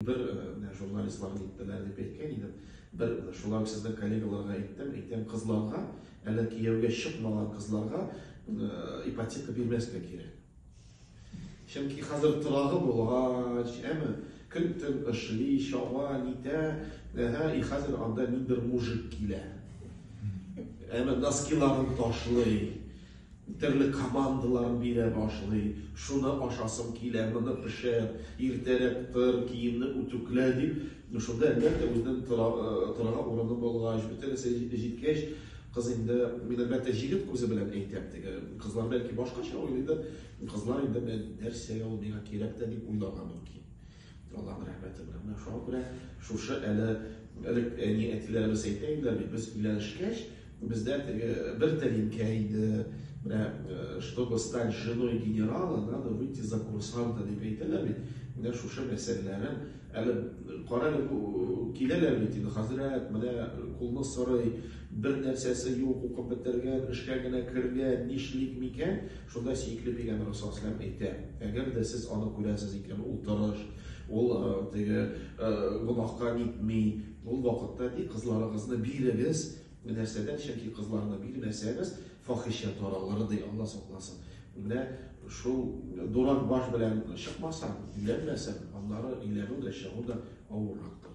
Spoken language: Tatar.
Бер менә журналистлар ниттеләр дип әйткән идем. Бер шулай ук сезнең коллегаларга әйттем, әйтәм, кызларга, әле кияүгә чыкмаган кызларга ипотека бирмәскә кирәк. Чөнки хәзер торагы булгач, әме көн-төн эшли, чаба, нитә, әһә, и хәзер анда ниндер мужик килә. Әме носкиларын ташлый. Төрле командалар бирә башлый, шуны ашасым килә, моны пешер, иртәрәк тор, киемне үтүклә, дип. Шунда, әлбәттә, үзенең торырга урыны булгач, бөтен нәрсә җиткәч, кыз инде, мин, әлбәттә, җегет күзе белән әйтәм, теге кызлар бәлки башкача уйлыйдыр, кызлар инде, нәрсә ул, миңа кирәк тә, дип уйларга мөмкин. Аллаһның рәхмәте белән. Менә шуңа күрә шушы әле элек әни әтиләребез әйтә иделәр бит, без өйләнешкәч, бездә теге бер тәлинкә иде. Менә э, чтобы стать женой генерала, надо выйти за курсанта дип әйтәләр бит. Менә шушы мәсьәләләрен әле кара әле бу киләләр бит инде хәзрәт, менә кулны сорый, бер нәрсәсе юк, укып бетергән, эшкә генә кергән, нишлик микән? Шунда сөекле пәйгамбәребез саллаллаһу галәйһи ва сәлләм әйтә, Әгәр дә сез аны күрәсез икән, ул тырыш, ул теге гөнаһка нитми, ул вакытта ди, кызларыгызны бирегез, нәрсәдән, чөнки кызларны бирмәсәгез, фахишә таралыр, ди, Алла сакласын. Менә шул дурак баш белән чыкмасаң, өйләнмәсәң, аннары өйләнү дә, чыгу да авыррактыр.